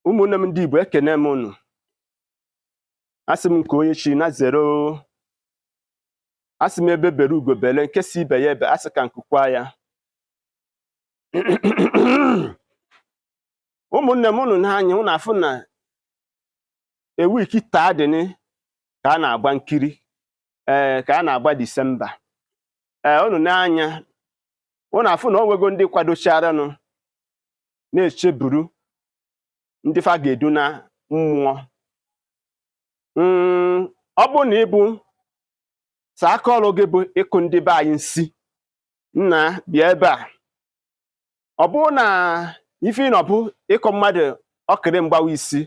ụmụnne m ndị Igbo ekene m unu asị m nke onye chiri nya zere o asị m egbe bere ugo bele nke si ibe ya ebe asị ka nku kwaa ya ụmụnne m unu n'anya unu afụ na ewiki taa dịnị ka a na-agba nkiri ee ka a na-agba disemba ee unu n'anya unu afụ na ọ nwego ndị kwadocharanụ na-echeburu ndị fa ga-edu na mmụọ Mm, ọ bụrụ na ị bụ sị aka ọrụ gị bụ ịkụ ndị be anyị nsi nna bịa ebe a ọ bụrụ na ife ị nọ bụ ịkụ mmadụ ọkịrị mgbawa isi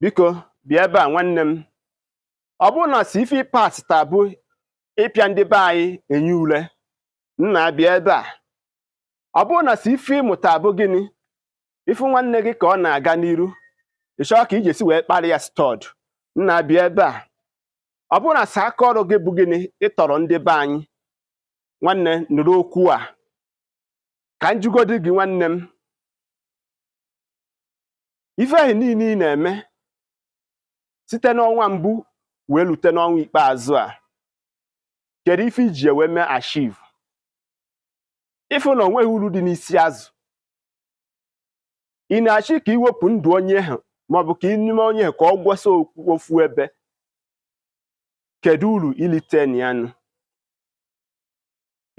biko bịa ebe a nwanne m ọ bụrụ na sị ife ị pass taa bụ ịpịa ndị be anyị enyi ule nna bịa ebe a ọ bụrụ na sị ife ị mụta bụ gịnị ị fụ nwanne gị ka ọ na-aga n'iru ị chọọ ka iji esi wee kparị ya stud nna bịa ebe a ọ bụrụ na sị aka ọrụ gị bụ gịnị ịtọrọ ndị be anyị nwanne nụrụ okwu a ka m jụgodi gị nwanne m ife ahụ niile ị na-eme site n'ọnwa mbụ wee lute n'ọnwa ikpeazụ a kedu ife i ji wee mee achieve ị fụ na onweghị uru dị n'isi azụ ị na-achọ ka i wepụ ndụ onye ahụ maọbụ ka ị na-eme onye ahụ ka ọ gwọsa ofu ebe kedu uru i lite na ya nụ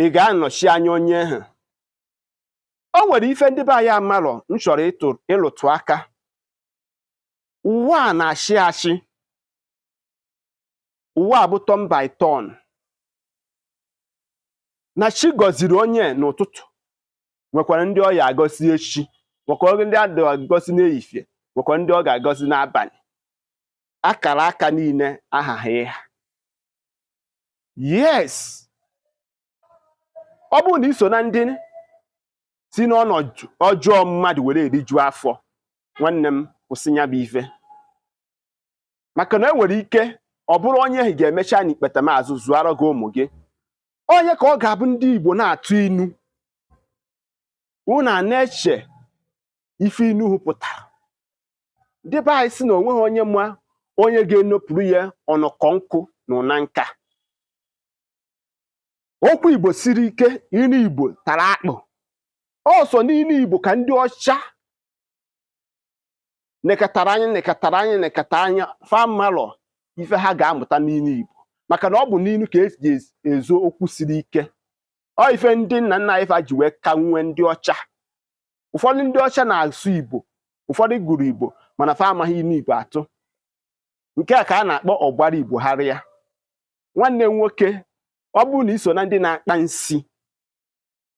ị ga-anọchi anya onye ahụ o nwere ife ndị be anyị amarọ m chọrọ ịlụtụ aka ụwa a na-achị achị ụwa a bụ turn by turn na chi gọziri onye n'ụtụtụ nwekwara ndị ọ ya agọzi echi nwekwara ndị a ga-agọzi n'ehihie nwekwara ndị ọ ga-agọzi n'abalị akara aka niile ahaghị ịha yes ọ bụrụ na i so na ndị si n'ọnọdụ ọjọọ mmadụ were eriju afọ nwanne m kwụsị ya bụ ife maka na e nwere ike ọ bụrụ onye ahụ ga-emecha n'ikpeta maazụ zụara gị ụmụ gị onye ka ọ ga-abụ ndị Igbo na-atụ inu unu ana-eche ife inu ahụ pụtara ndị be anyị si na onweghị onye ma onye ga-enopụrụ ya ọnọkọ nkụ n'ụna nka okwu igbo siri ike inu igbo tara akpụ ọ sọ n'inu igbo ka ndị ọcha nekatara anya nekatara anya nekatara anya fa amarọ ife ha ga-amụta n'inu igbo maka na ọ bụ n'ilu ka e ji ezo okwu siri ike ọ ife ndị nna nna anyị fa ji wee ka nwee ndị ọcha ụfọdụ ndị ọcha na-asụ igbo ụfọdụ gụrụ igbo mana fa amaghị inu igbo atụ nke a ka a na-akpọ ọgbara igbo harịa nwanne m nwoke ọ bụrụ na i so na ndị na-akpa nsi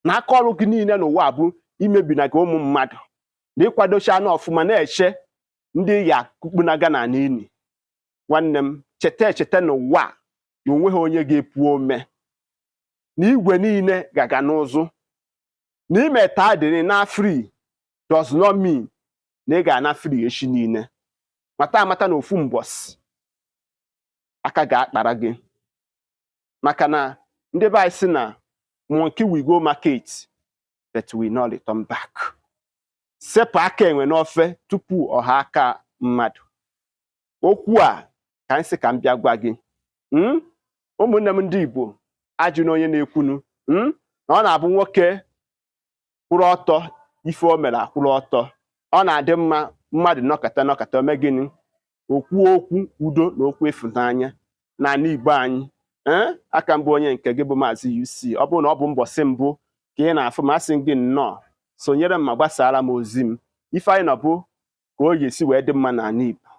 na aka ọrụ gị niile n'ụwa bụ imebinaga ụmụ mmadụ na ịkwadocha anụ ọfụma na-eche ndị ya kpukpunaga na n'ili nwanne m cheta echeta n'ụwa na onweghị onye ga-epu ome na igwe niile ga-aga n'ụzụ na i mee taa dịrị na free does not mean na ị ga-ana free echi niile mata amata na ofu mbọsị aka ga-akpara gị maka na ndị be anyị si na monkey will go market but will not return back sepụ aka enwe n'ofe tupu ọ ghọọ aka mmadụ okwu a ka anyị sị ka m bịa gwa gị hmm? ụmụnne m ndị Igbo ajụna onye na-ekwunu hmm? na ọ na-abụ nwoke kwụrụ ọtọ ife o mere akwụrụ ọtọ ọ na-adị mma mmadụ nọkata nọkata o mee gịnị o kwuo okwu udo na okwu ịfụnanya n'ala Igbo anyị eh? a ka m bụ onye nke gị bụ maazị UC ọ bụrụ na ọ bụ mbọsị mbụ ka ị na-afụ m asị gị nnọọ sonyere m ma gbasaara m ozi m ife anyị nọ bụ ka o ga-esi wee dị mma n'ala Igbo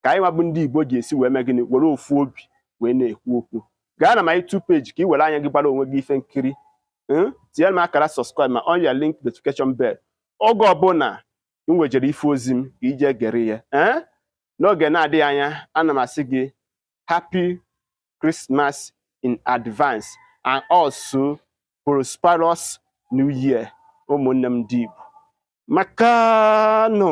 ka anyị nwa bụ ndị Igbo ga-esi wee mee gịnị were ofu obi wee na-ekwu okwu gaa na my YouTube page ka ị were anya gị gbara onwe gị ife nkiri hmm? tinyere m akara subscribe ma on your link notification bell oge ọbụla m wejere ife ozi m ka i je gere ya eh? n'oge na-adịghị anya ana m asị gị happy Christmas in advance and also prosperous new year ụmụnne m ndị Igbo makanụ